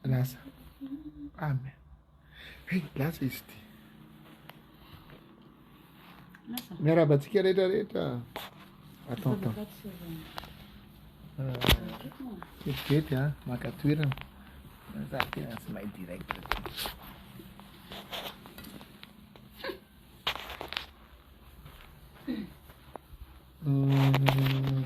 Lasa. Amen. Hey, lasa izy ity. Miarahaba antsika rehetra rehetra. Attends, attends. Kelikely euh, a, maka toerana. Za tena tsy mahay direct. Mm.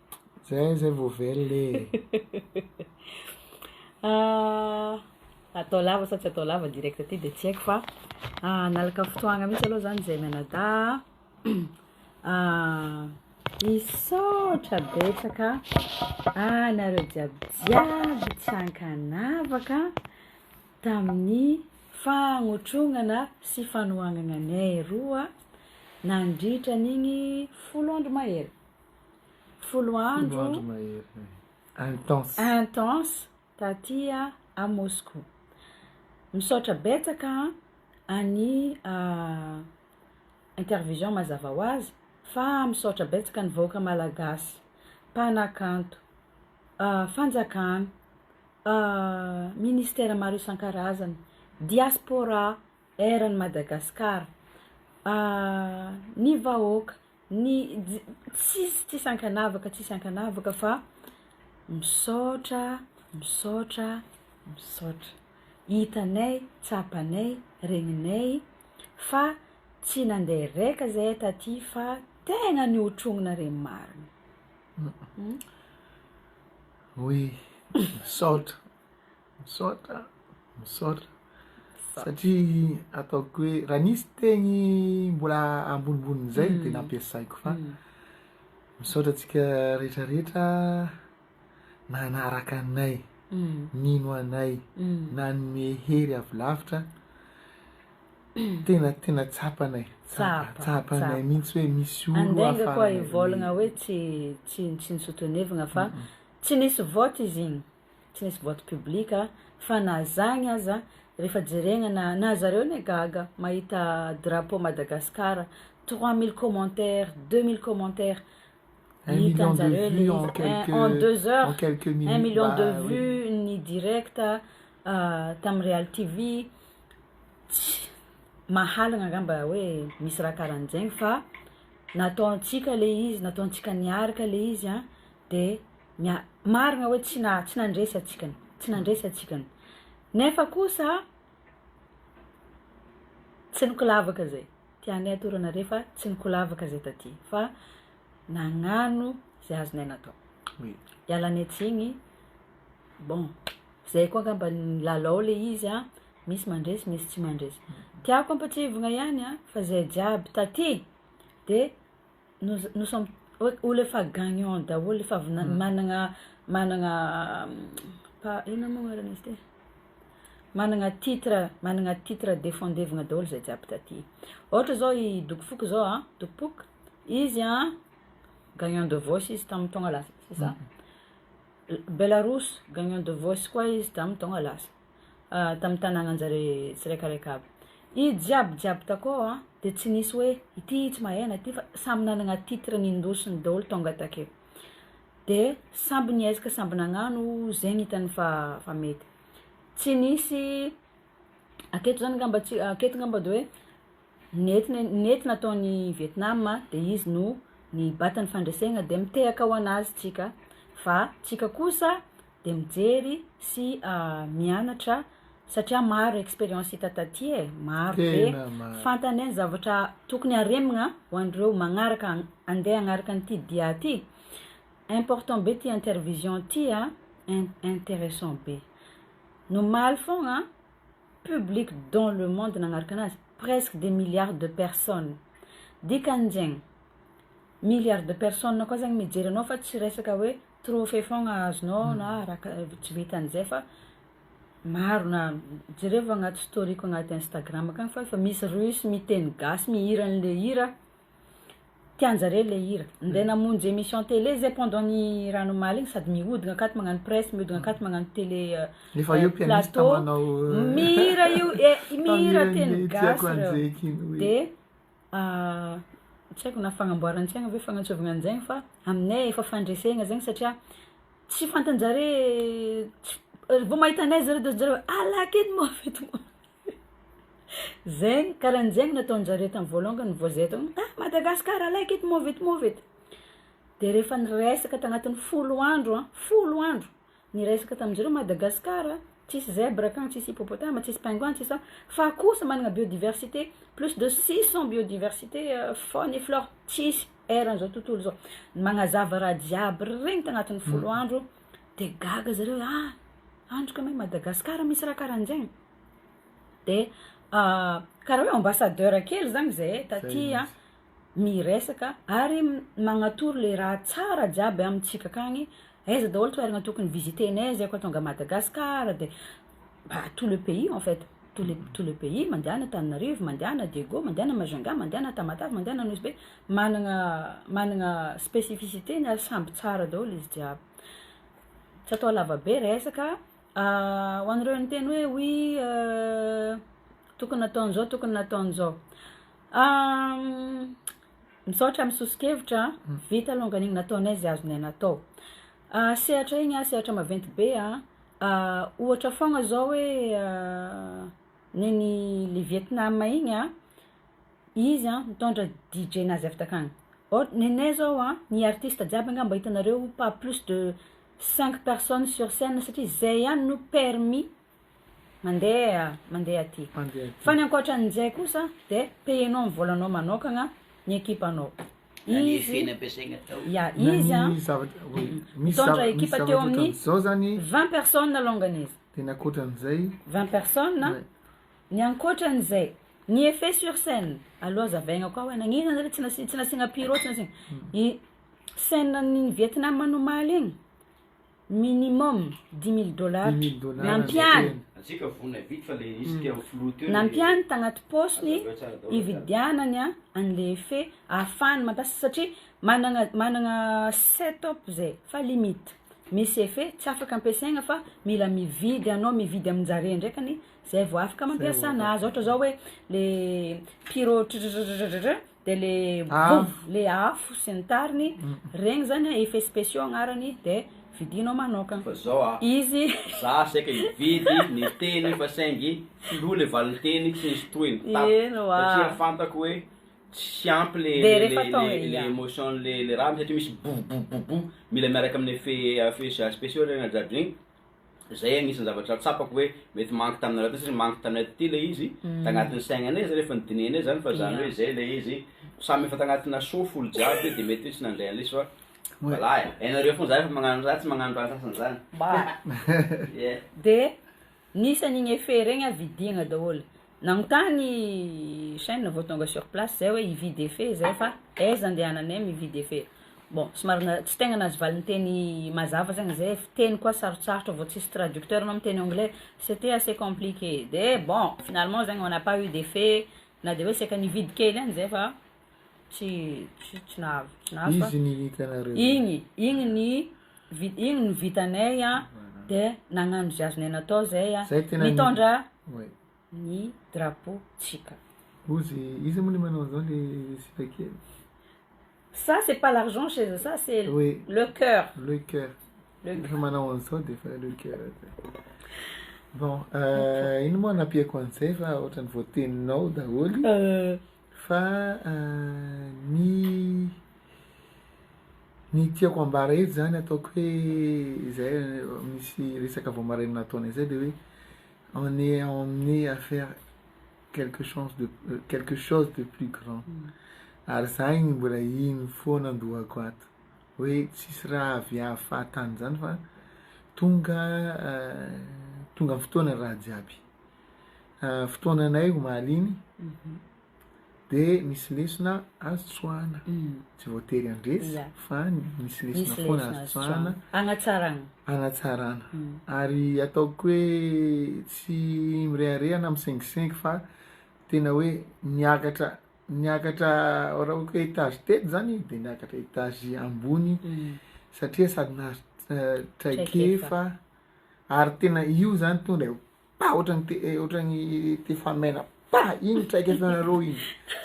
Zay zay vao velona e. Ah, atao lava sa tsy atao lava direct aty de tsy haiko fa ah, nalaka fotoagna mihitsy aloha zany zay mianada ah, misaotra betsaka anareo jiaby jiaby tsy ankanavaka tamin'ny fagnotrognana sy fanohagnana anay roa nandritra an'igny folo andro mahery Folo andro intense taty à Moscou. Misaotra betsaka an'i intervision mazava ho azy fa misaotra betsaka ny vahoaka malagasy, mpanakanto, fanjakana, ministera maro isan-karazany, diaspora. Air an'i Madagascar ahh ny vahoaka ny ji- tsisy tsisy ankanavaka tsisy ankanavaka fa misaotra misaotra misaotra hitanay tsapanay regninay fa tsy nande reka zahay taty fa tegna nihotrognina re marina hum. Oui, misaotra. Misaotra, misaotra satria ataoko hoe raha nisy teny mbola ambonimbonin'izay dia nampiasaiko fa misaotra antsika rehetrarehetra nanaraka anay, nino anay, nanome hery avy lavitra tena tena tsapanay, tsapanay mihitsy hoe misy olo hafa. Andainga koa hivolagna hoe tsy tsy tsy ni-soutenevagna fa tsy nisy vote izy igny. tsy nisy boite public fa na zagny aza refa jeregna na na zareo ne gaga mahita drapeau Madagascar trois mille commentaires deux mille commentaires hitanjareo le izy en deux heures un million de vues ny direct tam real TV tsy mahalana ngamba hoe misy raha karanjegny fa nataontsika le izy nataontsika niaraka le izy an de ny marina hoe tsy na tsy nandresy antsika ny tsy nandresy antsika ny nefa kosa tsy nikolavaka zay tianay atorana re fa tsy nikolavaka zay taty fa nagnano zay azonay natao Oui. ialanay tsigny bon zay koa angamba ny lalao le izy a misy mandresy misy tsy mandresy tiako ampatsiahivina ihany a fa zay jiaby taty de Nous nous sommes olo efa gagnant daholo efa avy na- managna managna pa- inona moa agnaran'izy ty managna titre managna titre defendevina daholo zay jiaby taty ôhatra zao i doky foko zao a doky pok izy a gagnant de voice izy tamin'ny taogna lasa c'est ça Belarus gagnant de voice koa izy tamin'ny taogna lasa. tamin'ny tanànan-jare tsiraikaraika aby. I jiaby jiaby takao a, de tsy nisy hoe ity tsy mahay ana ty fa samy nanagna titre nindosiny daholo tonga takeo, de samby niezaka samby nagnano zegny hitany fa fa mety, tsy nisy aketo zany ngamba tsy aketo ngamba de hoe Nety nety nataony Vietnam dia izy no nibata ny fandresegna dia mitehaka ho anazy tsika fa tsika kosa dia mijery sy mianatra satria maro experience hita taty e maro be fantany zavatra tokony haremigna ho an'ireo magnaraka ande hagnaraka an'ity dia ty important be ty intervision ty a interessant be nomaly fôgna public dans le monde nagnaraka anazy presque des milliards de personne dikan'zegny milliards de personne koa zany mijery anao fa tsy resaka hoe trophée fôgna azonao na araka tsy vitan'izay fa maro na jerevo agnaty story-ko agnaty instagram akagny fa efa misy russe miteny gasy mihira an'le hira. Tian'dry zareo ilay hira. Ndeha namonjy emission télé zay pendant ny rano omaly iny sady mihodina akato magnano presse mihodina akato magnano télé plateau mihira io eh mihira teny gasy reo de tsy haiko na fagnamboaran-tsaigna ve fagnantsôvana an'izegny fa aminay efa fandresegna zegny satria tsy fantan-jare tsy vao mahita anay zare de ohatry zare hoe alaka edy moa avy eto moa. Zegny, karaha zegny nataonjareo tamy voalongany vao zay teo, ah Madagascar like it, move it, move it, de rehefa niresaka tagnatiny folo andro an, folo andro niresaka taminjareo Madagascar an, tsisy zèbre akagny, tsisy hippopotame, tsisy pingouin, tsisy an, fa kosa magnana biodiversité, plus de six cent biodiversité faune et flore, tsisy eran'izao tontolo izao, magnazava raha jiaby regny tagnatiny folo andro. de gaga zareo hoe ah andry kama i Madagascar misy raha karan'zegny de karaha hoe ambassadeur kely zany zay taty an miresaka ary magnatoro le raha tsara jiaby amintsika akagny aiza daholo toerana tokony visiter-nay zay koa tonga à Madagascar de Bah tout le pays en fait, tout le tout le pays, mandehana Antananarivo, mandehana Diego, mandehana Majunga, mandehana Tamatave, mandehana Nosy-Be, managna managna spécificité-ny ary samby tsara daholo izy jiaby. Tsy atao lava be resaka, ho an'ireo niteny hoe oui tokony natao an'izao tokony natao an'izao, misaotra amin'ny soso-kevitra an, vita longany igny nataonay izay azonay natao, sehatra igny an sehatra maventy be an, Ohatra foagna zao hoe nen'i le Vietnam igny a, izy a nitondra DJ-nazy avy takagny, ohatra nenay zao a, ny artista jiaby anga mba hitanareo pas plus de cinq personnes sur scène satria zay ihany no permis mandeha mandeha aty, fa ny ankoatran'izay kosa de payer-nao ny vôlanao manôkagna ny ekipanao. izy ya izy a mitondra ekipa teo amin'ny vingt personnes alongany izy vingt personnes ny ankoatran'izay ny effet sur scène aloha azavaina koa hoe nagnino zany tsy nasi- tsy nasiana pyro tsy nasiana i scène an'ny vietnam omaly iny Minimum dix mille dollars nampiany nampiany tagnaty paosiny hividianany an'le effet ahafahany mampiasa satria managna managna setup zay fa limite misy effet tsy afaka ampiasaigna fa mila mividy anao mividy amin-jare ndraikany zay vao afaka mampiasa anazy ôhatra zao hoe le pyro tratratratr. de le Afo. boom le afo sy ny tariny regny zany a effets speciaux agnarany de vidinao manokagna Fa zao a, izy za saika hividy ny teny fa saingy filoha le valinteny tsy nisy tohiny tap Eny oa. satria fantako hoe tsy ampy le De le refa le atao le e, le ya. emotion le le raha satria misy bou bou bou bou mila miaraka amin'ny effet effets speciaux regny jiaby regny Izay agnisan'ny zavatra tsapako hoe mety manque taminareo teo satria manque tanay taty ilay izy, mm. tagnatin'ny saignanay zany efa nidinihanay zany fa zany hoe izay ilay izy samy efa tagnatina soa folo jiaby de mety hoe tsy nandray an'ilay izy fa voilà e, hainareo foana za efa magnano za tsy magnano raha sasany zany. Ba. Yeah. De nisan'igny effet regny a vidiagna daholo. Nagnontany chaine vao tonga sur place zay hoe hividy efe zay fa aiza andehananay mividy efe? Bon somary na- tsy tegna nahazo valinteny mazava zegny zay fiteny koa sarotsarotra vao tsisy traducteur anao miteny anglais c'etait assez compliqué de bon finalement zegny on n'a pas eu d'efe na de hoe saika nividy kely ihany zay fa tsy tsy tsy nahazo tsy nahazo fa Izy ny hitanareo. igny igny ny iny no vitanay an, de nagnano zay azonay natao zay an, mitondra ny drapeau tsika. Ozy, iza moa le manao anzao le sipa kely? Ça c'est pas l'argent chez eux, ça c'est le coeur. Le coeur. Refa manao anzao de efa le coeur zay. Bon, ino moa anampiako anzay fa otrany voateninao daholy. Fa ny ny tiako hambara eto zany ataoko hoe izay misy resaka vao maraina nataonay izay dia hoe on est emmené à faire quelque chance de quelque chose de plus grand ary zah igny mbola igny foana an-dohako ato hoe tsisy raha avy hahafaha tany zany fa tonga tonga fotoana raha jiaby. fotoananay omaly iny dia misy lesona azo tsoahana, tsy voatery handresy fa misy lesona foana azo tsoahana, hanatsarana, hanatsarana ary ataoko hoe tsy mirehareha na misengisengy fa tena hoe niakatra niakatra raha ohatra hoe etage teto zany de niakatra etage ambony satria sady nahazo traikefa ary tena io zany tonga de. Pah! Otrany te otrany te fa mena pah! Iny traikefanareo iny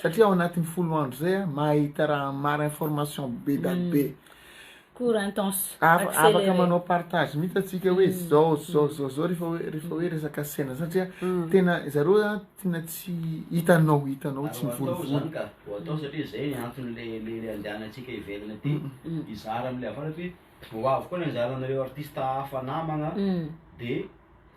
satria ao anatiny folo andro zay a mahita raha maro information be da be. Cours intense, accéléré. Afaka manao partage mihitsy atsika hoe zao zao zao zao refa hoe refa hoe resaka sena satria tena zareo a tena tsy hitanao hitanao tsy mivolivoli. Ho atao satria zay ny antony le le le andehanantsika ivelany aty hizara amle avaratra hoe. Vao ho avy koa ny anjaranareo artista hafa namagna de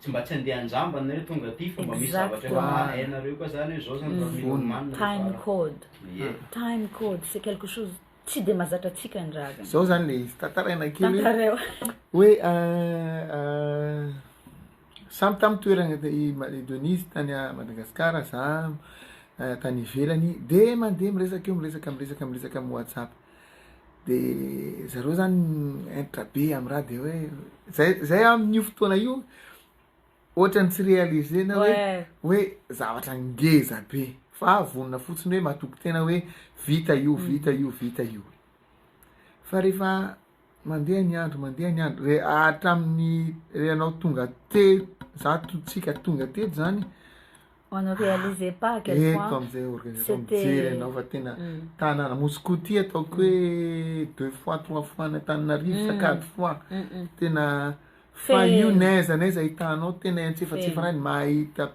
tsy mba tsy andeha anjambany nareo tonga aty fa mba misy zavatra efa hainareo koa zany hoe zao zany valo million man nareo fara time code ye time code c'est quelque chose tsy de mazatra antsika ny raha zany zao zany le izy tantaraina kely tantareo hoe samy tamy toerana i Denise tany à Madagascar za tany ivelany de mandeha miresaka eo miresaka miresaka miresaka amy WhatsApp de zareo zany entra be am raha de hoe zay zay amin'io fotoana io ohatrany tsy réaliser na hoe hoe zavatra ngeza be fa vonona fotsiny hoe matoky tena hoe vita io vita io vita io fa rehefa Mandeha ny andro, mandeha ny andro, re hatramin'ny re anao tonga teto, za to tsika tonga teto zany, On ne réalisait pas à quel point eto am'zay organisation c'était- mijery anao fa tena tanàna, Moscouti ataoko hoe deux fois trois fois any Antananarivo sa quatre fois, tena fa io n'aiza n'aiza ahitanao tena antsefatsefana any mahita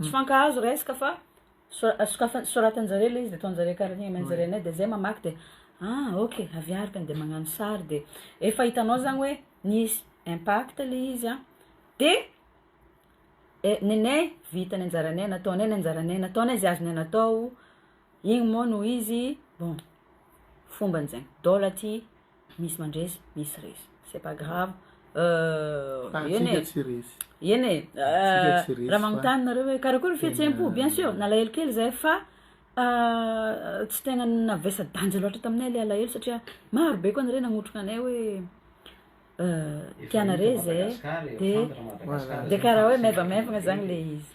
Tsy fankahazo resaka fa sokafan soratanjareo le izy de ataonjareo karaha igny ameanjareo anay de zay mamaky de ah ok avy ary de magnano sary de efa hitanao zany hoe nisy impact le izy a de eh nenay vita ny anjaranay nataonay ny anjaranay nataonay ze azonay natao igny moa no izy bon fombanjay dôla aty. Misy mandresy, misy resy. C'est pas grave. Euh, eny e. Eny e. Euh, raha magnontany nareo hoe karakory fihetseham-po, bien sûr, nalahelo kely zay fa euh, tsy tegna navesa danja loatra taminay le alahelo satria maro be koa nareo nagnotrona anay hoe euh, tianare zay de de karaha hoe maivamaivagna zagny le izy.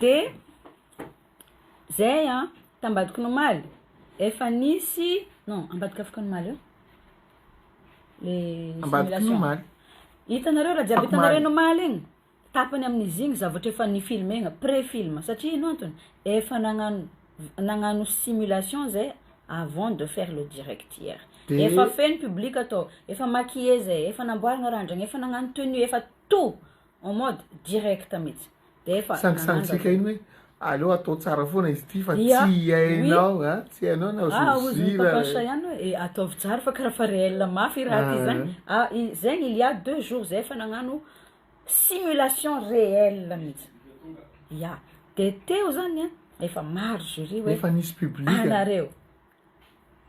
De zay an, t'Ambadik'Omaly efa nisy, non ambadika afokon'omaly eo le simulation, hitanareo raha jiaby hitanareo eny omaly eny, tapany amin'izy igny zavatra efa nifilmena, pré film, satria ino antony, efa nagnano nagnano simulation zay avant de faire le direct hier, efa feno public tao, efa maquiller zay, efa namboarina randrana, efa nagnano tenue, efa tout. en mode direct mitsy de efa sangisangintsika iny hoe aleo atao tsara foana izy ity fa tsy iainao a tsy iainao na ozozira ihany hoe eh, ataovy tsara fa karaha fa réel mafy i raha ty zany ah. ah zegny il y a deux jours zay efa nagnano simulation réel mihitsy ya de teo zany a efa maro jury hoe efa nisy public anareo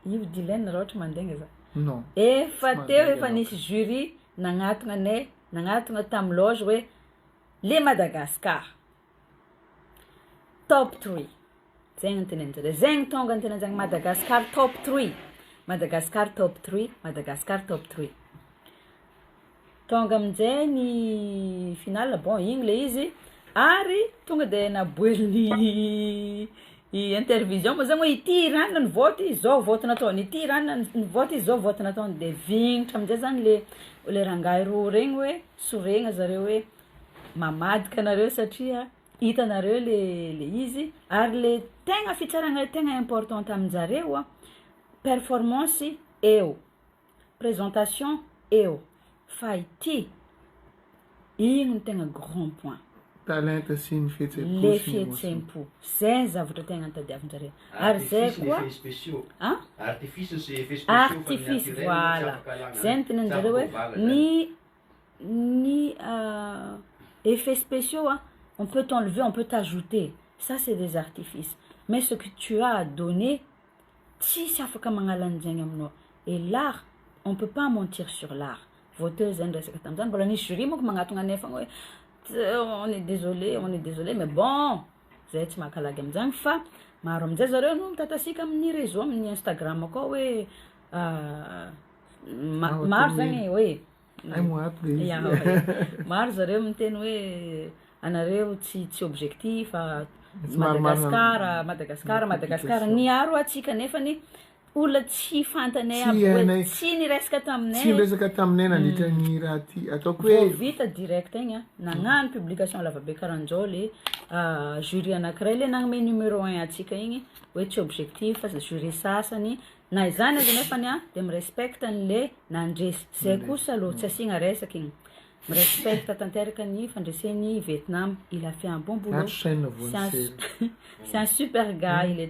Io Dylaine raha ohatra mandeha nga za non efa teo efa nisy jury nagnatogna anay nagnatogna tam loge hoe le Madagascar top three zegny ny teneninjareo zegny tonga ny teneninjareo Madagascar top three Madagascar top three Madagascar top three Tonga amin'jay ny finale, bon igny le izy, ary tonga de naboelin'i i intervision moa zany hoe ity ranona ny vote zao vote nataony, ity ranona ny vote zao vote nataony, de vignitra amizay zany le le rangahy roa regny hoe soregna zareo hoe mamadika anareo satria hitanareo le le izy, ary le tegna fitsarana tegna importante aminjareo an, performance eo. Présentation eo fa ity ino no tegna grand point. Talenta sy ny fihetsem-po sy ny emotion. Le fihetsem-po. Zay ny zavatra tegna tadiavin-jareo. Ary zay koa. Artifices sy effets spéciaux. An? Artifices, voilà. Zay no tenenin-jareo hoe ny ny effets spéciaux an, on peut t'enlever, on peut t'ajouter. Ça c'est des artifices. Mais ce que tu as à donner. Tsisy afaka magnala ny zegny aminao et l'art on peut pas mentir sur l'art vao teo zay niresaka tamzany mbola nisy jury manko magnatogna anay fogna hoe on est désolé on est désolé mais bon zahay tsy maka lagy amzany fa maro amzay zareo no mitatasika amin'ny réseau amin'ny instagram akao hoe maro zany hoe. Ay mo ato le izy. Maro zareo miteny hoe anareo tsy tsy objectif fa Madagascar, Madagascar, Madagascar niaro atsika nefany olona tsy fantanay aby hoe tsy niresaka taminay. Tsy niresaka taminay nandritra ny mm. raha ty ataoko hoe vita direct igny a. Nagnano mm. publication lavabe karanjao le ah, jury anankiray le nagnome numéro 1 atsika igny hoe tsy objectif fa jury sasany Na izany aza nefany an, dia mi-respect ny le nandresy, zay kosa aloha tsy asiagna resaka igny. Mi-respect tanteraka ny fandresen'i Vietnam, il a fait un bon boulot, c'est un c'est un super gars il est.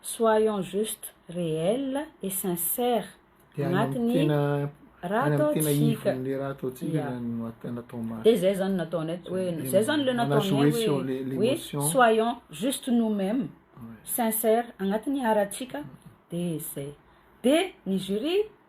Soyons juste, réel et sincère agnatin'ny raha ataontsika, ya, dia izay zany nataonay hoe, izay zany le nataonay hoe, soyons juste nous mêmes, sincère agnatin'ny aratsika dia izay, dia ny jury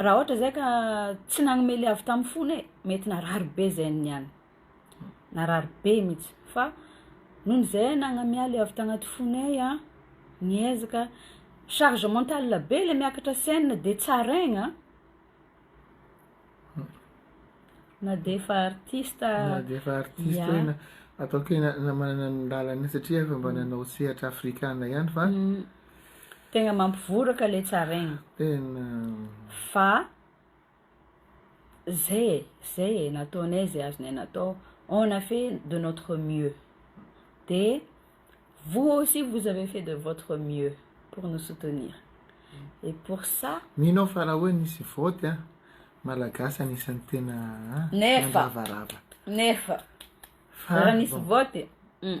Raha ohatra zay ka tsy nagnome le avy tamin'ny fony e, mety narary be zay niany, narary be mihitsy, fa noho izay nagnamia le avy tagnaty fonay an, niezaka, charge mentale be le miakatra scène de tsaraigna an, na de efa artiste aza, na de efa artiste hoe na ataoko hoe na manana ny lalany satria efa mba nanao sehatra afrikana ihany fa Tegna mampivoraka le tsaregny. Tena. Fa zay e, zay e, nataonay zay azonay natao, on a fait de notre mieux, de vous aussi vous avez fait de votre mieux pour nous soutenir et pour ça. Mino aho fa raha hoe nisy vote a, Malagasy anisan'ny tena a, mandravarava. Nefa, nefa, raha nisy vote, hum.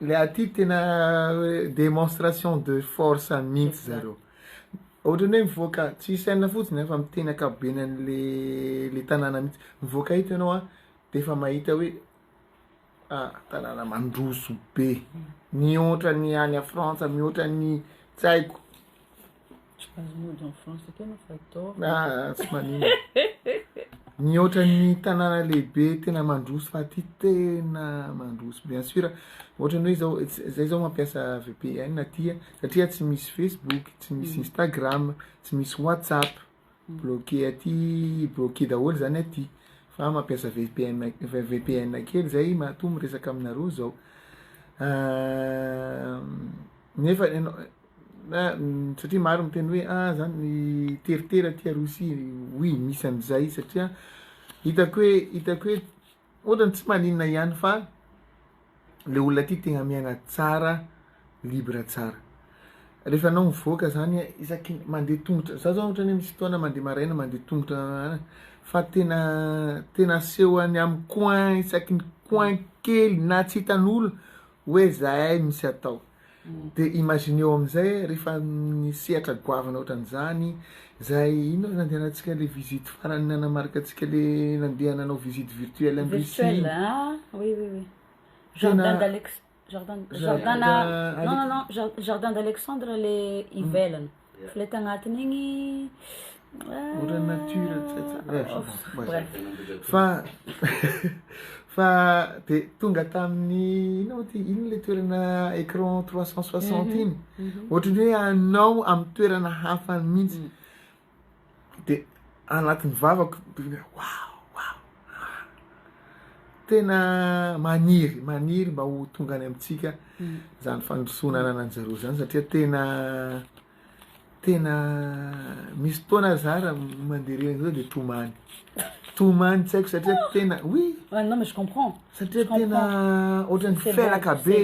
Ilay aty tena demonstration de force mihitsy zareo. Ohatrany hoe mivoaka tsy Usain fotsiny fa miteny ankapobeny an'le le tanàna mihitsy. Mivoaka eto ianao dia efa mahita hoe ah tanàna mandroso be, mihoatra ny any Frantsa, mihoatra ny tsy haiko. Mihoatra ny tanàna lehibe tena mandroso fa aty tena mandroso bien sur ohatra ny hoe zao zay zao mampiasa VPN aty satria tsy misy facebook tsy misy instagram tsy misy whatsapp. Bloquer aty bloquer daholo zany aty fa mampiasa vpn vpn kely zay matoa miresaka aminareo zao nefa ianao satria maro miteny hoe ah zany miteritery aty a Rosia oui misy an'izay satria hitako hoe hitako hoe Ohatrany tsy maninona ihany fa le olona aty tegna miaina tsara libre tsara rehefa anao mivoaka zany isaky ny mandeha tongotra za zao ohatrany misy fotoana mandeha maraina mandeha tongotra fa tena tena aseho any am coin isaky ny coin kely na tsy hitan'olo hoe zahay misy atao Dia imagineo amin'izay rehefa amin'ny sehatra goavana ohatran'izany izay, inona no nandehanantsika ilay visite farany nanamarika antsika ilay nandeha nanao visite virtuelle any Russie iny? Virtuelle ah oui oui oui, jardin d'Alex, jardin, jardin, non non non, jardin d'Alexandre ilay ivelany. Ilay tagnatiny igny Ora nature Fa Fa de tonga tamin'ny inona moa ty inona le toerana écran trois cent soixante iny ohatran'ny hoe anao amin'ny toerana hafa mihitsy de anatin'ny vavako dia waouh waouh ah tena maniry maniry mba ho tonga any amintsika izany fandrosoana ananan'i zareo izany satria tena tena misy fotoana za raha mandeha reny zao dia tomany tomany tsy haiko satria tena oui Ah non mais je comprends. Satria tena ohatran'ny felaka be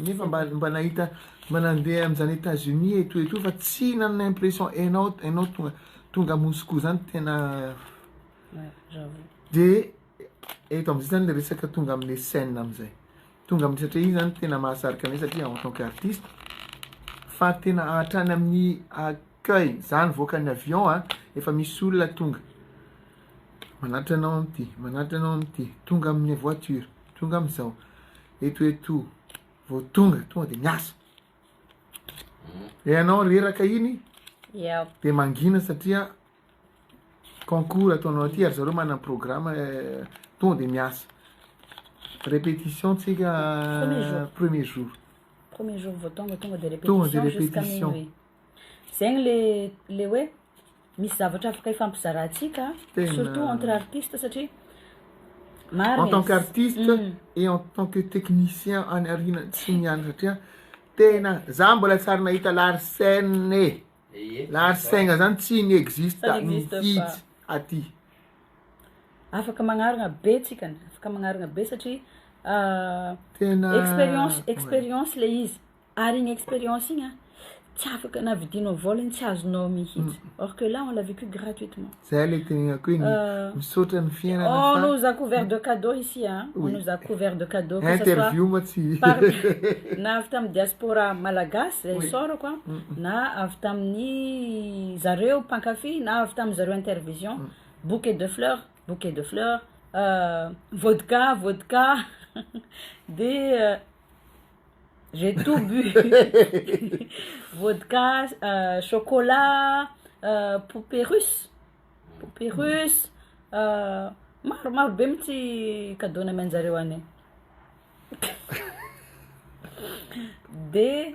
nefa mba mba nahita mba nandeha amin'izany États-Unis eto eto fa tsy nanana impression enao enao tonga tonga Moscou zany tena de eto am'zay zany le resaka tonga am'le scène am'zay tonga amin'ny satria io zany tena mahasarika anay satria en tant que artiste fa tena hatrany amin'ny accueil zany voakan'ny avion a efa misy olona tonga Manatitra anao amin'ity, manatitra anao amin'ity, tonga amin'ny voiture, tonga amin'izao, eto eto, vao tonga, tonga de miasa. Re anao reraka iny, de mangina satria concours ataonao aty ary zareo manana programme eh, tonga de miasa. Répétition tsika eh, premier jour. Premier jour vao tonga, tonga de répétition jusqu'à minuit. Zegny le le hoe Misy zavatra afaka ifampizaratsika surtout entre artistes satria marina izy. En tant qu'artiste et en tant que technicien any aoriana tsy ny any satria tena za mbola tsy ary nahita larsen e. Larsen zany tsy ny existe mihitsy aty. Afaka magnarina be tsika afaka magnarina be satria experience experience le izy. Ary iny expérience iny an, tsy afaka na vidinao vol iny tsy azonao mihitsy. Or que là on l'a vécu gratuitement. Zay le tegnako hoe ny misaotra ny fiainana fa. On nous a couvert de cadeaux ici an, on nous a couvert de cadeaux que ce soit. Interview moa tsy. Na avy tamin'ny diaspora malagasy zay isaorako an, na avy tamin'ny zareo mpankafy na avy tamin'ny zareo intervision, bouquet de fleurs, bouquet de fleurs, vodka, vodka, dia. Reto bu vodka, chocolat, poupée russe, poupée russe, maro maro be mintsy cadeau nameanjareo anay. De.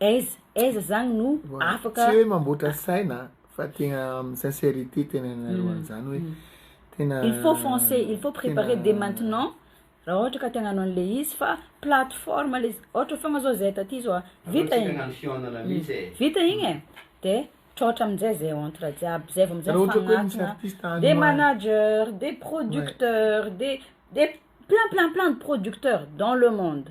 Aiza aiza zany no afaka. Tsy hoe mamboatra saina fa tegna amin'ny sincerité tenenanareo an'izany hoe tena. Il faut foncer, il faut preparer dès maintenant raha ohatra ka te hagnano an'le izy fa plateforme le izy, ohatra foagna zao zay taty zao vita igny. Aleo antsika hagnano fihaonana mihitsy e. Vita igny e, de trôtra amin'jay zay entre jiaby zay vao amin'jay mifagnatona, de manager, de producteur, de de plein plein plein de producteur dans le monde.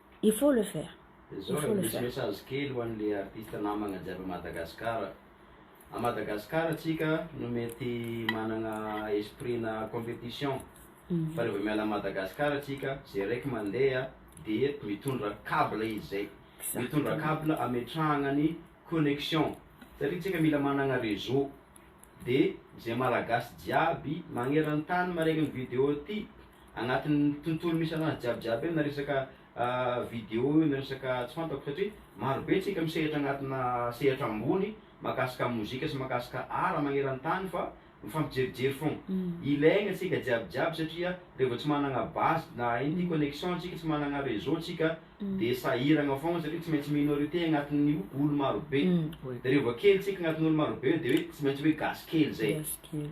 Il faut le faire. Zao raha misy message kely ho an'le artiste namagna jiaby à Madagascar. À Madagascar tsika no mety managna esprit na competition fa rehefa miala à Madagascar tsika ze raiky mandeha de mitondra cable izy zay. Mitondra cable ametrahagna ny connection satria tsika mila managna réseau. de zay malagasy jiaby magneran tany maregny ny video ty agnatin tontolo misy anazy jiaby jiaby io na resaka video io na resaka tsy fantako satria maro be tsika misehatra agnatina sehatra ambony makasika mozika sy makasika art magneran tany fa mifampijerijery fogna ilaigna tsika jiaby jiaby satria re vao tsy managna base na ino ty connexion tsika tsy managna reseau tsika dia sahiragna fôgna satria tsy maintsy minorité agnatin'ny olo marobe, dia reo voakely tsika agnatin'ny olo marobe eo dia hoe tsy maintsy hoe gasy kely zay,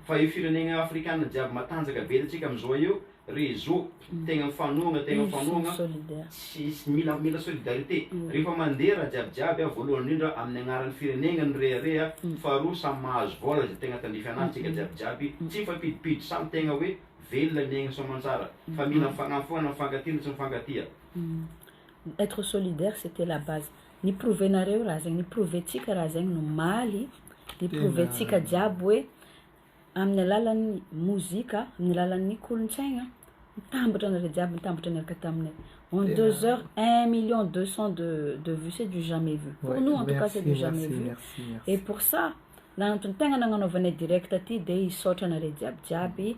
fa io firenegna afrikana jiaby matanjaka be eto tsika amizao eo réseau tegna mifanohagna tegna mifanohagna tsisy mila mila solidarité, rehefa mandeha raha jiaby jiaby a voalohany indrindra amin'ny agnaran'ny firenegna no rehareha, faharoa samy mahazo vôla zay tegna tandrify anazy tsika jiaby jiaby tsy mifampidimpidy samy tegna hoe velona ny aignany soamantsara fa mila mifagnampoagna mifankatia no tsy mifankatia. Être solidaire c'etait la base, ni-prouver-nareo raha zegny, ni-prouver-tsika raha zegny no omaly, ni-prouver-tsika jiaby hoe amin'ny alalan'ny mozika, amin'ny alalan'ny kolontsaigna, mitambatra anareo jiaby, mitambatra niaraka taminay, en deux heures un million deux cent de de vue c'est du jamais vu, pour nous en tout cas c'est du jamais vu, et pour ça, na antony tegna nagnanaovanay direct ty de hisaotra anareo jiaby jiaby.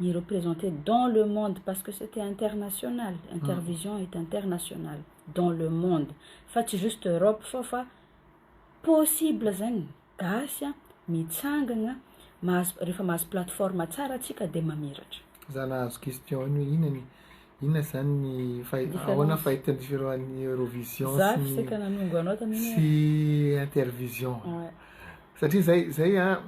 ni representer dans le monde parce que c'etait international intervision est international dans le monde fa tsy juste Europe fao fa possible zegny gasy a mitsangagna mahazo rehefa mahazo plateforme tsara tsika de mamiratra za nahazo question iny hoe inona ny inona zany ny fahi- Différence. ahoana fahitan'ny firohan'ny Eurovision za sy ny fisaka nanongo anao tamin'iny sy intervision Ouais. satria zay zay a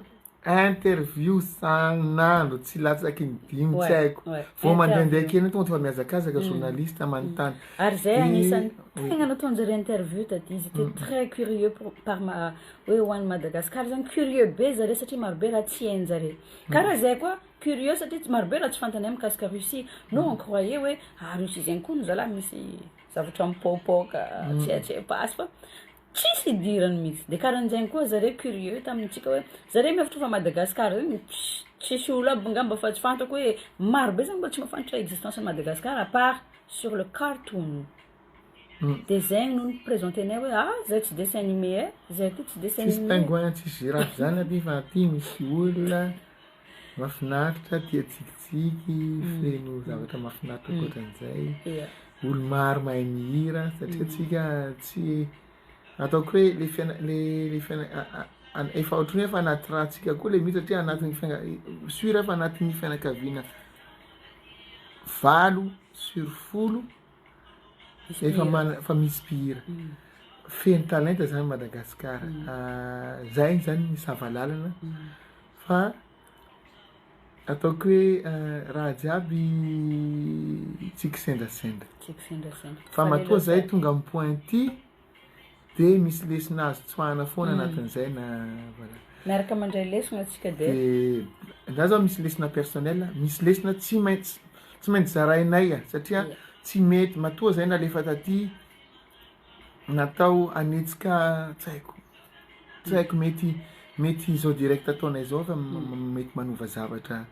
interview san'andro tsy latsaky ny dimy tsy haiko vao mandraindray kely tonga dia efa mihazakazaka mm. journaliste manontany mm. ary zay anisan'ny tegna nataonjare interview taty izy était mm. très curieux pour par ma hoe ho an'i Madagascar zany curieux be zare satria marobe raha tsy hainjare karaha zay koa curieux satria tsy marobe raha tsy fantany amin'ny mikasika Russie no on croyait hoe ah Russie zegny koa no zalahy misy zavatra mipaopaoka tsy haitsy pasy fa Tsisy idirany mihitsy de karanjegny koa zare curieux tamintsika hoe zare mihevitra fa Madagascar io tsisy olo aby ngamba fa tsy fantrako hoe maro be zany mbola tsy mafantatra existence an'i Madagascar à part sur le cartoon de zegny no ni-presenter anay hoe ah zay tsy dessin animé eh zay aty tsy dessin animé eh. Tsisy pingouin tsisy girafe zany aty fa aty misy olona. Mafinaritra, tia tsikitsiky, feno zavatra mafinaritra ankoatran'izay. Olo maro mahay mihira satria antsika tsy ataoko hoe le fiaina- le le fiaina- a- a- an- efa ohatran'ny hoe efa anaty rantsika koa le mihira satria anatin'ny fiaina- sur fa anatin'ny fianakaviana valo sur folo efa mana- efa misy mpihira. Feno talenta zany Madagasikara. Zay zany ny sava lalana. Fa ataoko hoe raha jiaby tsy kisendrasendra. Tsy kisendrasendra. Fa matoa zay tonga am pointy de misy lesona azo tsoahana foana anatin'izay na voilà. Miaraka mandray lesona tsika de. De za zao misy lesona personnel, misy lesona tsy maintsy tsy maintsy zarainay satria tsy mety matoa zay nalefa taty Natao hanetsika tsy haiko tsy haiko mety mety izao direct ataonay zao fa mety manova zavatra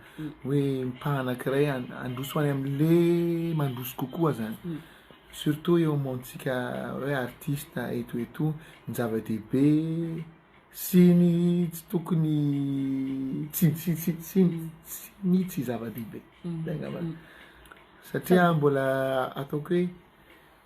hoe mpanakiray handroso any amle mandroso kokoa zany surtout eo amontsika hoe artiste eto ho eto ny zava-dehibe sy ny tsy tokony tsy tsy tsy tsy ny tsy zava-dehibe zay ngambany satria mbola ataoko hoe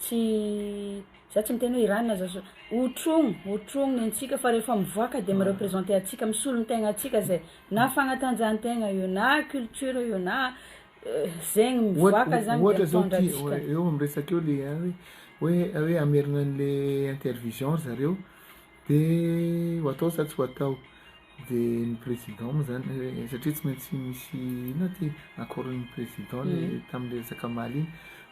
tsy za tsy miteny hoe Iran za zao, hotrogno hotrogno ny antsika fa rehefa mivoaka de mi-representer antsika, misolo ny tegnantsika zay, na fagnatanjahantegna io na culture io na zegny mivoaka zany de mitondra antsika. Ohatra zao eo amin'ny resaka eo le hoe hoe hoe hamerina an'le intervision ry zareo de ho atao sa tsy ho atao. Dia ny président moa zany eh, satria tsy maintsy misy inona ty accord ny président le mm. tamin'le resaka maly iny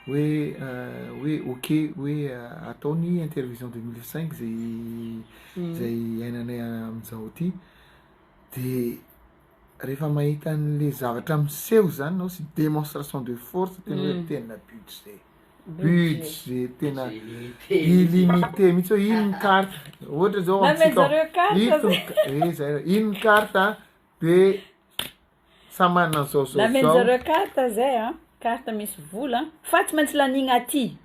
hoe eh, hoe ok hoe eh, atao ny intervision 2005 zay mm. zay ainanay amin'izao ty de rehefa mahita an'le zavatra miseho zany nao sy démonstration de force tena hoe mm. tena budget budget tena illimité mihitsy hoe ino ny carte ohatra zao amintsika ito eh zay ino ny carte de samy manana zao zao zao carte zay a carte misy vola fa tsy maintsy lanigna aty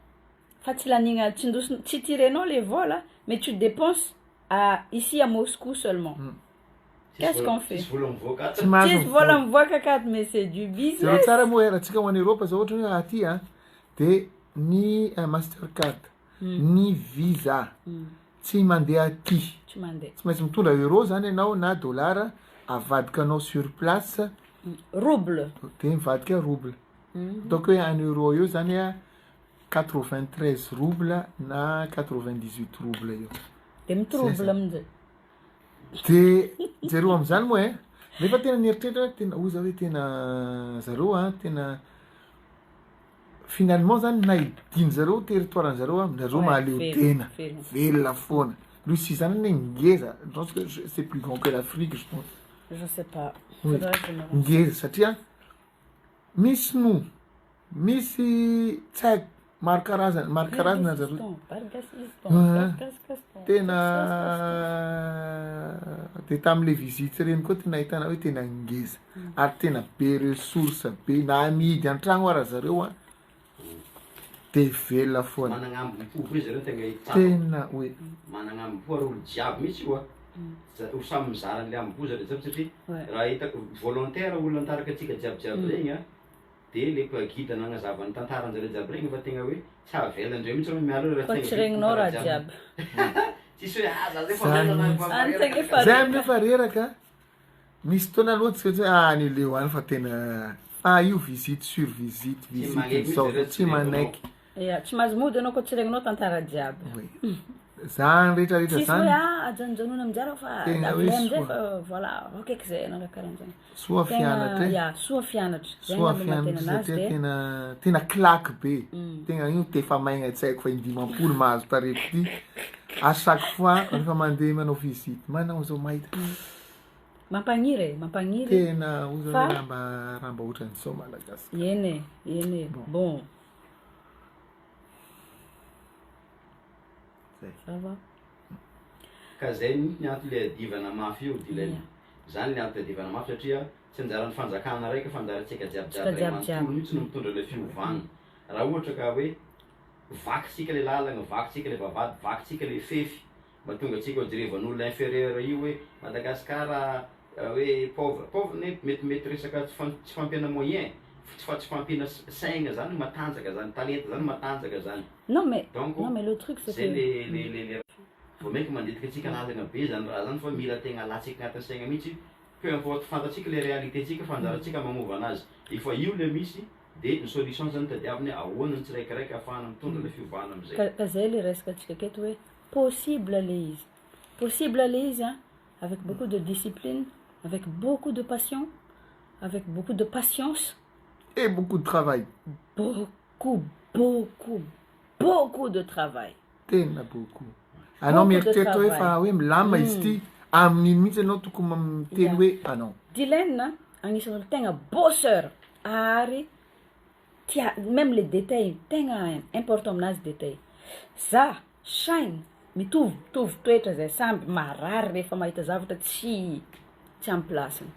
fa tsy lanigna atsindosina tsy tirenao le vola mais tu depenses à ici à Moscou seulement. Hmm. Qu'est-ce qu'on fait? Tsy mahazo vola mivoaka kady mais c'est du business. Zero tsara moa era tsika ho any Europe zao ohatra hoe aty a de ny eh, Mastercard, hmm. ny Visa hmm. tsy mandeha aty. Tsy mandeha. Tsy maintsy mitondra euro zany ianao na dollar avadikanao sur place. Rouble. De mivadika rouble. Donc hoe any euro io zany a Quatre-vingt-treize roubles na quatre-vingt-dix-huit roubles eo. Dia mi-trouble amin'izay. Dia jereo amin'izany moa eh. Nefa tena nieritreritra hoe tena hoy za hoe tena zareo a tena finalement zany na hidin zareo territoire an'i zareo a zareo mahaleotena velona foana. Russie zany anie ngeza je pense que c'est plus grand que l'Afrique je pense. Je sais pas. Ngeza satria. Misy noho misy tsag maro karazana maro karazana ry zareo tena dia tamin'le visite ireny koa tena ahitana hoe tena ngeza ary tena be ressource be na amidy an-tragno ary zareo an Dia velona foana. Managna ambohipo ve zareo tegna hitako. Tena oe. Managna ambohipo ary olo jiaby mitsy oa. Za ho samy mizara anle ambohipo zareo jiaby satria raha hitako volontaire olona nitarika antsika jiaby jiaby regny a, dia le pa guide nagnazava ny tantaranjareo jiaby regny fa tegna oe tsy avelandreo mitsy anao miala eo Fa tsy regninao raha jiaby. Tsisy oe ah za zay fa reraka. Zay amin'io fa reraka. Misy fotoana aloha tsy maintsy hoe ah any leo any fa tena fa io visite sur visite visite zao zao tsy manaiky Ya, tsy mahazo mody ianao koa tsy regninao tantara jiaby. oui zany rehetra rehetra Tsisy hoe zany ah ajanonjanona amin'izay raha fa Tena hoe davilay amin'izay soa. fa voilà akaiky izay ianao raha karan'izany. soa Tegna fianatra e ya, soa fianatra. Zay soa angamba no maha-tena fianatra anazy satria dia tena tena claque be tegna io tefa maigna tsy haiko fa in-dimampolo mahazo tarehy free A chaque fois rehefa mandeha manao visite manao zao mahita Mampagniry e, mampagniry. Tena oza fa... raha mba raha mba ohatran'izao Madagascar. Eny e, eny e. Bon. bon. Zay. Ça va. Ka zay mihitsy ny antony le adivana mafy io dilay. Yeah. Zany le antony adivana mafy satria tsy anjaran'ny fanjakana raika fa anjarantsika jiaby jiaby ray manontolo mihitsy no mitondra le fiovana. Raha ohatra ka hoe Vaky tsika le lalagna, vaky tsika le vavahady, vaky tsika le fefy, mba tonga tsika ho jerevan'olona inferieur io hoe Madagascar hoe pauvre, pauvre ne mety mety resaka tsy fa tsy fampiana moyen, tsy fa tsy fampiana saigna zany matanjaka zany, talenta zany matanjaka zany, Non mais, donc non mais le truc c'est zay le que. le le vao mainka manditika antsika lalagna be zany raha zany fa mila tegna alatsika agnatin'ny saigna mihitsy, peu importe fantatsika le réalité tsika fa anjarantsika magnova anazy, efa io le misy, Dia ny solution zany tadiaviny hoe ahoana ny tsiraikiraiky ahafahana mitondra ilay fiovana amin'izay. Ka, ka zay le resaka antsika aketo hoe possible le izy. Possible le izy an, avec beaucoup de discipline, avec beaucoup de passion, avec beaucoup de patience. Et beaucoup de travail. Beaucoup, beaucoup, beaucoup de travail. Tena boko. Anao mieritreritra hoe fa hoe milamina izy ity, amin'iny mihitsy ianao tokony miteny hoe anao. Dylaine agnisan'ny olo tegna bosseur ary tia meme le détail tegna important aminazy détail. Za, shine, mitovy mitovy toetra zay samby marary rehefa mahita zavatra tsy tsy am place-ny.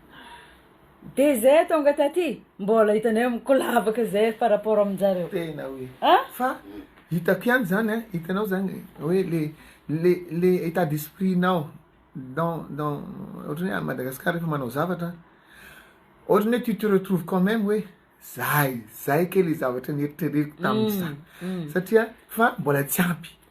De zay tonga taty mbola hitanay hoe mikolavaka zay par rapport aminjareo. Tena oe An? fa hitako ihany zany an, hitanao zany oe le le le etat d'esprit nao dans dans ohatrany hoe a Madagascar refa manao zavatra ohatrany hoe tu te retrouves quand meme oe zay zay kay le zavatra neritreretiko taminy zany satria fa mbola tsy ampy.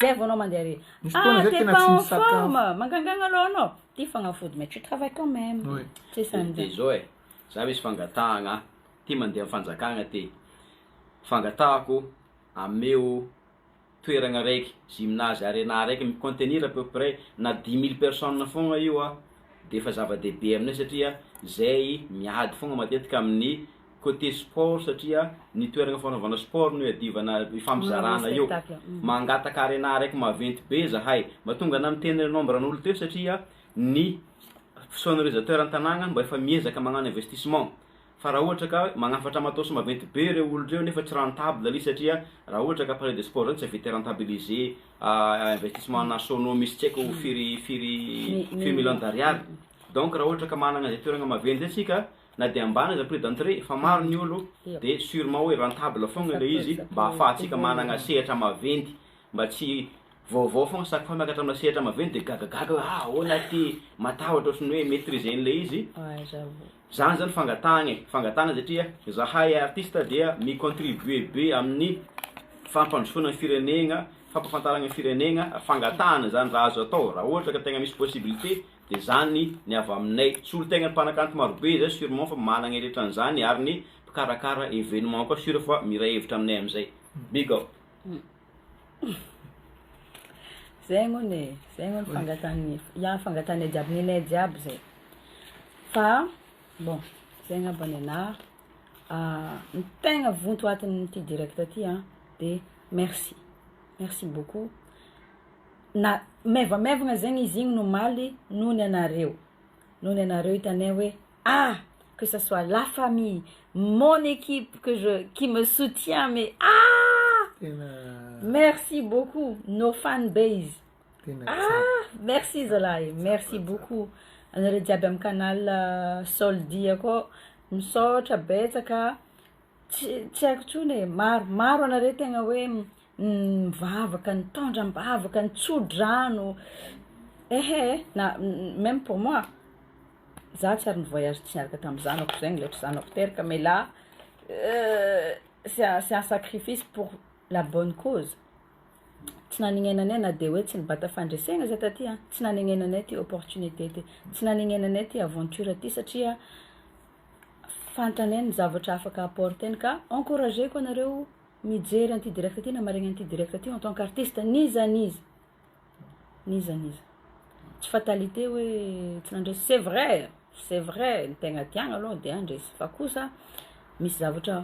Zay vao anao mandeha re. Misy fotoana Ah, zay t'es tena pas tsy en misakafo. forme! Mangangagna aloha anao. Ty fagnafody mais tu travailles quand même. Oui. Tsy De sanjy. zao e, za misy fangatahagna an, ty mandeha am fanjakagna ty, fangatahako ameo toeragna raiky, gymnase arena araiky mi contenir à peu près na dix mille personnes fôgna io an, defa zava-dehibe aminay satria zay miady fôgna matetika amin'ny. Côté sport satria ny toerana fanaovana sport no iadivana ifampizarana eo. Mangataka arena araiky maventy be zahay. Mba tonga ana miteny re nombre n'olo teo satria ny sonorisateur an-tanagna mba efa miezaka magnano investissement. Fa raha ohatra ka magnafatra matos maventy be reo olo reo nefa tsy rentable anie satria raha ohatra ka palais de sport zany tsy avy te rentabiliser investissement ana sono misy tsy aiko firy firy firy millions d'ariary. Donc raha ohatra ka managna zay toerana maventy zay tsika, Na dia ambany aza prix d'entrée fa maro ny olo dia surement hoe rentable foagna ilay izy mba ahafahantsika managna sehatra maventy mba tsy vaovao foagna chaque fois miakatra amina sehatra maventy dia gagagaga hoe ah ahoana ity matahotra ohatran'ny hoe maitriser an'ilay izy zany zany fangatahagna e fangatahagna satria zahay artiste dia mi contribuer be amin'ny fampandrosoana ny firenegna fampafantaragna ny firenegna fangatahana zany raha azo atao raha ohatra ka tegna misy possibilité Dia izany ny avy aminay. Tsy olon-tegna mpanakanto marobe izay surement fa managna eretra an'izany ary ny mpikarakara événement koa sur fa miray hevitra aminay amin'izay. Big up. Zay angony e, zay angony fangatahan'ny, ya fangatahanay jiaby, nenay jiaby zay. Fa bon, zay angamba nenaha. Ny tegna vonto atin'ity direct ty an, de merci, merci beaucoup Na maivamaivagna zegny izy igny omaly noho ny anareo, noho ny anareo hitanay hoe ah que ça soit la famille, mon equipe que je qui me soutient mais ah Tena merci beaucoup nos fan base tena tsara. ah merci zalahy e, merci beaucoup anareo jiaby am canal Soldia akao, misaotra betsaka. Tsy tsy haiko intsony e, maro maro anareo tegna hoe mivavaka, nitondra am-bavaka, nitsodrano, ehe na même pour moi, za tsy ary ni-voyage tsy niaraka tamin'ny zanako zegny le ry zanako teraka mais là c'est un c'est un sacrifice pour la bonne cause, tsy nanegnenanay na de hoe tsy nibata fandresegna za taty an, tsy nanegnenanay ty opportunité ty, tsy nanegnenanay ty aventure ty satria. fantany ny zavatra afaka apporter-ny ka encourageko anareo mijery an'ity direct ity na maharegny an'ity direct ity en tant qu'artiste n'iza n'iza n'iza n'iza tsy fatalité hoe tsy nandresy c'est vrai c'est vrai ny tegna tiagna aloha de handresy fa kosa misy zavatra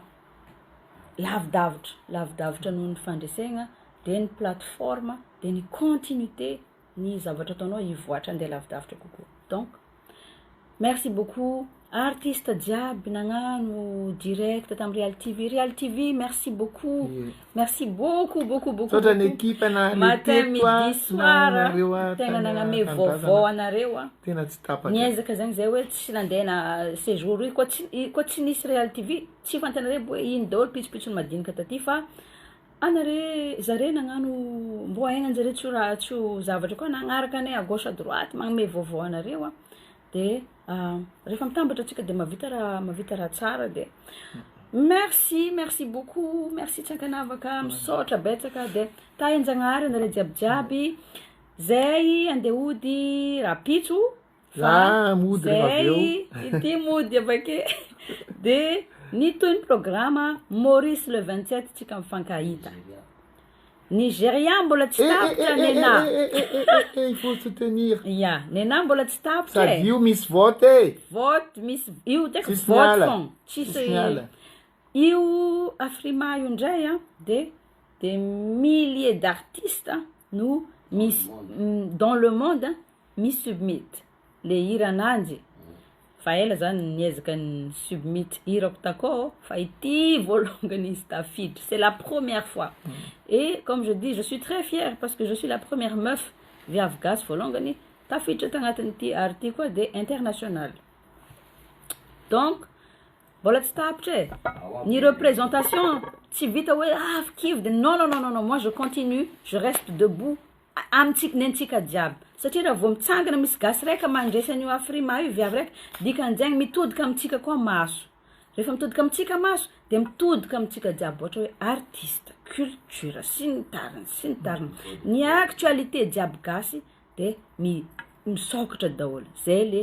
lavidavitra lavidavitra noho ny fandresegna de ny plateforme de ny continuité ny zavatra ataonao hivoàtra andeha lavidavitra kokoa donc. Merci beaucoup artiste jiaby nagnano direct tam Realy TV, Realy TV merci beaucoup merci beaucoup beaucoup beaucoup Misaotra ny equipe nahaleo teto a matin midi soir a nahanareo a tegna nagname vaovao tanindrazana anareo a tena tsy tapaka niezaka zany zay hoe tsy nandeha na sejour io koa tsy i- koa tsy nisy Realy TV tsy fantanareo aby hoe ino daholo pitsopitsony madinika taty fa Ana re zare nagnano mbô hainanjare tsy ho tsy ho zavatra koa nagnaraka anay à gauche à droite magnome vaovao anareo a de refa mitambatra tsika de mavita raha mavita raha tsara de merci merci beaucoup merci tsy ankanavaka misaotra betsaka de tahinjagnahary anare jiaby jiaby zay ande hody rapitso fa zay ity mody avake de ny toy ny programa maurice le vingt sept tsika mifankahita nigeria mbola tsy tapitra nenà ya nenà mbola tsy tapitra e io misy vote e vote misy io tek vote fon tsisy io afrima io ndray a de de milliers d'artistes no misy dans le monde Mi submit le hira ananjy fa ela za niezaka ni submit hirako takao fa ity voalongany izy tafiditra c'est la première fois et comme je dis je suis très fière parce que je suis la première meuf viavy gasy voalongany tafiditra tagnatin'ity ary ity koa de international donc mbola tsy tapitra e ny représentation tsy vita hoe avy kivy de non non non non moi je continue je reste debout amintsika ny antsika jiaby satria raha vao mitsangana misy gasy raika mandresy an'io afrima io viavy raika dikan'izegny mitodika amintsika koa maso rehefa mitodika amintsika maso de mitodika amintsika jiaby ohatra hoe artiste culture sy ny tariny sy ny tariny ny actualité jiaby gasy de mi- misôkatra daholo zay le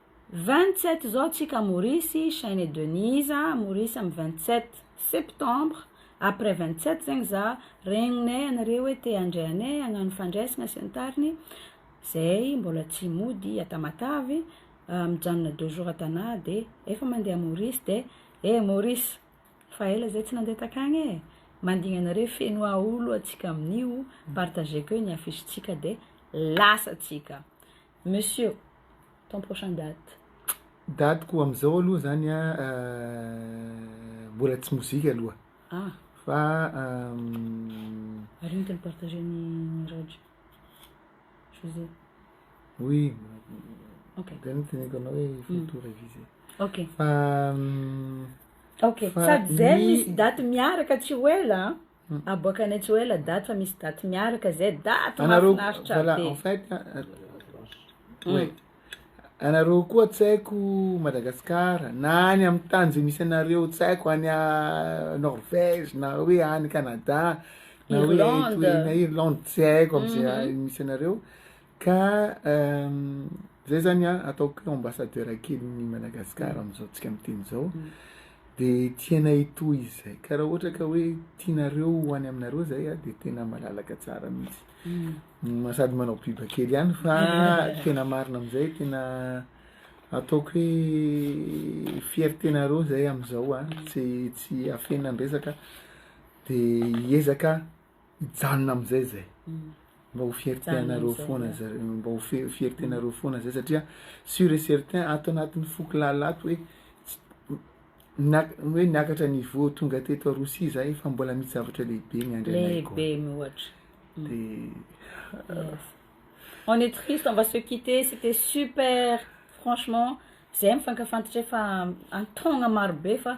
Vingt sept izao tsika Maurice, Shane et Denise, Maurice am vingt sept septembre, après vingt sept zegny za regninay anareo hoe te handray anay hagnano fandraisana sy ny tariny, zay mbola tsy mody à Tamatave, mijanona deux jours à Tana de efa mandeha à Maurice de eh Maurice fa ela zay tsy nandeha takagny e, mandigny anareo feno aolo atsika amin'io, partageko eo ny affiche tsika de lasa tsika, Monsieur, ton prochain date. Date-ko amin'izao aloha izany an, mbola tsy mozika aloha. Ah! Fa. Ary mety mi-partager ny Mirage José. Oui. Ok. Dia noteneniko anao hoe il faut tout réviser. Ok. Fa. Ok, sady izay misy date miaraka tsy ho ela an. Aboaka any tsy ho ela daty fa misy daty miaraka zay daty mahafinaritra be. Voilà en fait ouais anareo koa tsy haiko Madagascar na any amy tany zay misy anareo tsy haiko any Norvège na hoe any Canada na hoe Irlande tsy haiko amizay misy anareo. Ka zay zany a ataoko hoe ambassadeur kelin'ny Madagascar amin'izao tsika miteny zao de tianay hitohy izy zay ka raha ohatra ka hoe tianareo ho any aminareo zay a de tena malalaka tsara mihitsy ma- sady manao biba kely ihany fa tena marina am'izay tena ataoko hoe fiertenareo zay am'izao a tsy tsy afenina ny resaka de hiezaka hijanona amin'izay izay mba ho fiertenareo foana zare mba ho fi- fiertenareo foana zay satria sur et certain ato anatin'ny foko lalina ato hoe tsy- niak- hoe niakatra niveau tonga teto Rosia za efa mbola misy zavatra lehibe miandry anay lehibe koa miohatra de Yes. On est triste, on va se quitter. C'était super, franchement. Zay mifankafantatra efa an-taogna marobe fa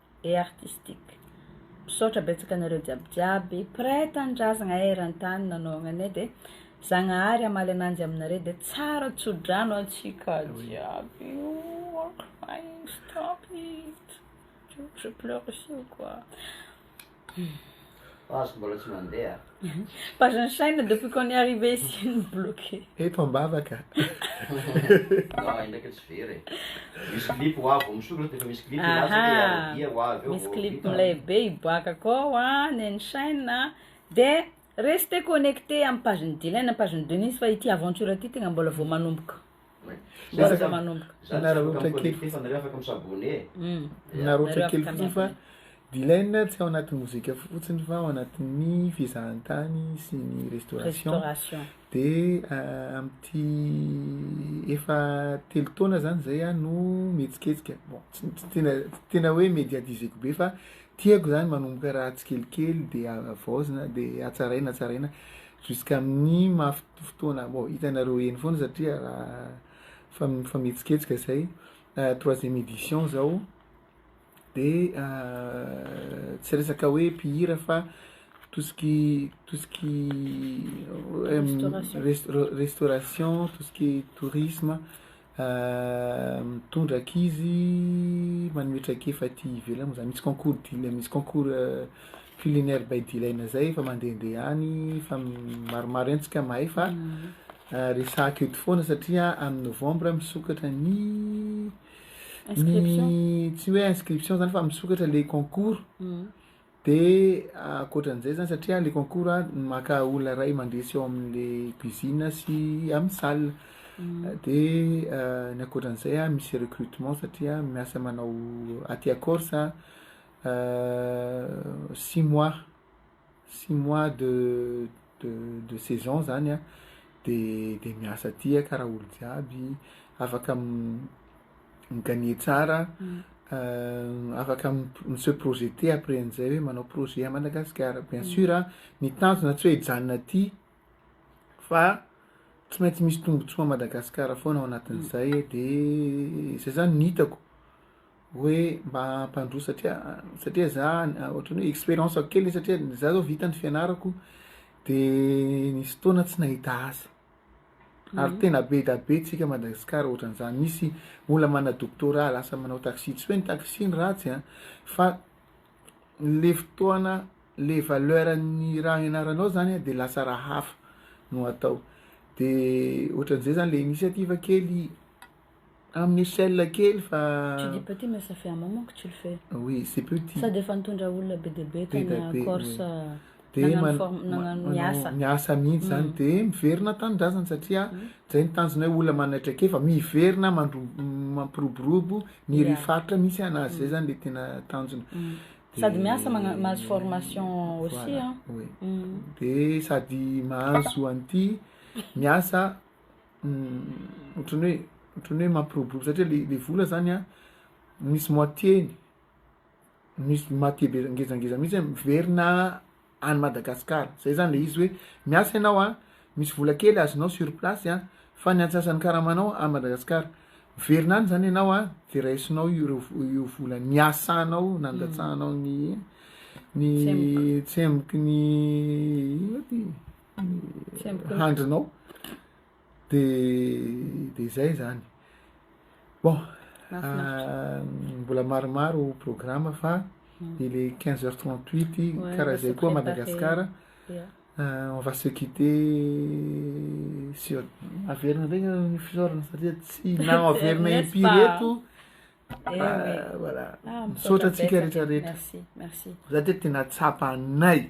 et artistique. Misaotra betsaka anareo jiaby jiaby mpiray tanindrazagna eran-tany nanaovagna anay dia Zagnahary hamaly ananjy aminareo dia tsara tso-drano antsika jiaby oh I'm crying stop it je pleure aussi ou quoi. Page mbola tsy mandeha. Page ny chaîne depuis qu'on est arrivé ici no bloqué. Eto ambavaka. Anao indraika tsy very e. Misy clip ho avy vao misokatra dia efa misy clip hilatsaka dia aradia ho avy eo. Misy clip milay be hiboaka akao an, ny an'ny chaîne an. Dia restez connectés amin'ny page-n'i Dylan, page-n'i Denise fa ity aventure ity tegna mbola vao manomboka. Miezaka manomboka. Za narotra kely fotsiny fa nareo afaka mi s'abonner e. Narotra kely fotsiny fa Dylan tsy ao anaty mozika fotsiny fa ao anatin'ny fizahantany sy ny restauration de amty efa telo taona zany zay aho no mihetsiketsika bon tsy tena tsy tena hoe mediatizeko be fa tiako zany manomboka raha tsikelikely de havaozina de hatsaraina hatsaraina jusqu'amin'ny maha Ity fotoana bon hitanareo eny foana satria raha mifametsiketsika izay troisième édition izao de tsy resaka hoe mpihira fa tout ce qui tout ce qui restauration tout ce qui tourisme Mitondra ankizy manome traikefa aty ivelany moa zany, misy concours dila- misy concours culinaire by dilaina zay efa mandehandeha any fa maromaro ihany tsika mahay fa resahiko eto foana satria amin'ny novambra misokatra ny ny tsy hoe inscription zany fa misokatra le concours. Dia ankoatran'izay izany, satria ilay concours dia maka olona iray mandresy ao amin'ilay cuisine sy amin'ny salle. Dia ny ankoatran'izay misy recrutement satria miasa manao aty à Corse six mois, six mois de. de de saison zany a de de miasa aty a karaha olo jiaby afaka mi gagner tsara afaka mi se projeter après an'izay hoe manao projet à Madagascar bien sur a ny tanjona tsy hoe hijanona aty fa tsy maintsy misy tombotsoa à Madagascar foana ao anatin'izay de zay zany ny hitako hoe mba hampandroso satria satria za ohatran'ny hoe expérience ko kely satria za zao vita ny fianarako de nisy fotoana tsy nahita asa ary tena be da be tsika Madagascar ohatran'izany misy olona manana doctorat lasa manao taxi tsy hoe ny taxi no ratsy an fa le fotoana le valeur ny raha hianaranao zany an de lasa raha hafa no atao de ohatran'izay zany le initiative kely Amin'ny échelle kely fa. Tu dis petit mais ça fait un moment que tu le fais. Oui, c'est petit. Sady efa nitondra olona be dia be tany Corse nagnano miasa. Miasa mihitsy zany mm. dia miverina tanindrazana satria mm. zay ny tanjona hoe olona manana traikefa miverina mampiroborobo ny ry faritra misy anazy zay mm. zany le tena tanjona. Sady miasa mahazo formation aussi an. Dia sady mahazo an'ity miasa ohatran'ny hoe ohatran'ny hoe mampiroborobo satria le le vola zany a misy moitié-ny misy moitié be ngezangeza mihitsy hoe miverina any Madagasikara zay zany le izy hoe miasa ianao a misy vola kely azonao sur place a fa ny antsasan'ny karamanao any Madagasikara miverina any zany ianao a de raisinao ireo vo- io vola niasanao nandatsahanao ny ny tsemboky ny inona ty. handrinao de de zay zany bon ah, mbola maromaro programme fa mm. il est 15 heures 38 karaha zay koa madagascar euh, on va se quitter si averina ndregny ny fisaorana satria tsy na averina impiry eto Eh ah, voilà. Ah, Misaotra antsika rehetrarehetra. Merci, merci. Za teto tena tsapanay.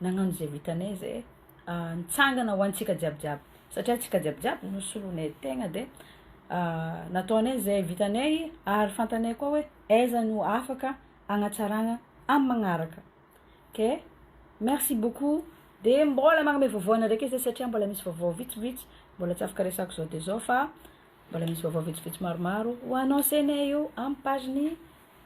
Nagnano izay vitanay izay nitsangana ho antsika jiaby jiaby satria tsika jiaby jiaby no solonay tegna de nataonay izay vitanay ary fantanay koa hoe aiza no afaka agnatsaragna amy magnaraka ok merci beaucoup de mbôla magname vaovao anareke zay satria mbôla misy vaovao vitsivitsy mbôla tsy afaka resako zao de zao fa mbôla misy vaovao vitsivitsy maromaro ho anoncenay eo amy page ny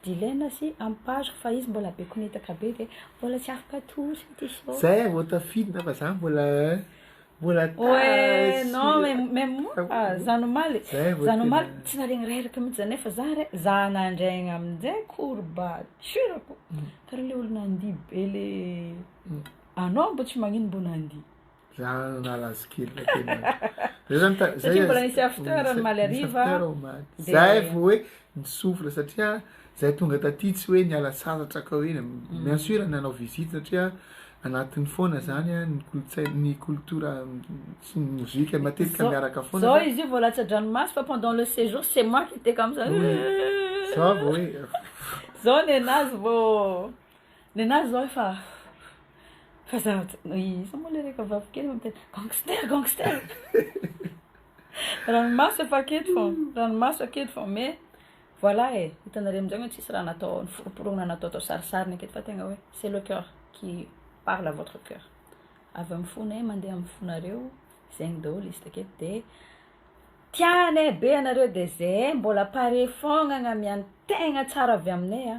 Dilaina sy amparo fa izy mbola be konetaka be dia mbola tsy afaka atolotra ity show. Zay ah vao tafidina fa za mbola eh, mbola tara Oe sy non mais mais moa ah, zany omaly Zay vao zany omaly tena- tsy naharegny reraka mihitsy za nefa za re za nandraigna aminjay courbature-ko karaha le olo nandihy be le anao mbo tsy magnino mbo nandihy. Za nala azy kely la tena. Zay zany ta- zay. Satria mbola nisy after ny maly hariva. After ao maty. Dia- Zay vao hoe ny souffle satria zay tonga taty tsy hoe niala sasatra ka hoe Mm. bien sûr nanao visite satria anatiny foana zany a, ny kolontsaina ny culture sy ny mozika matetika Zao- miaraka foana. Zao fa- izy io vao latsa-dranomaso fa pendant le séjour c'est moi qui étais comme ça. Oui. Za vao hoe Zao nenazy vao Nenazy zao efa efa zavatra iza moa le reka vavy kely miteny gangster gangster ranomaso efa aketo fô ranomaso aketo fô mais voilà e hitanareo amizay hoe tsisy raha natao niforoporoana natao atao sarisariny aketo fa tegna hoe c'est le coeur qui parle à votre coeur avy amy fona e mandeha amy fonareo zegny daholo izy taketo de tianay be anareo de ze mbola pare fôgna agnamiantegna tsara avy aminay a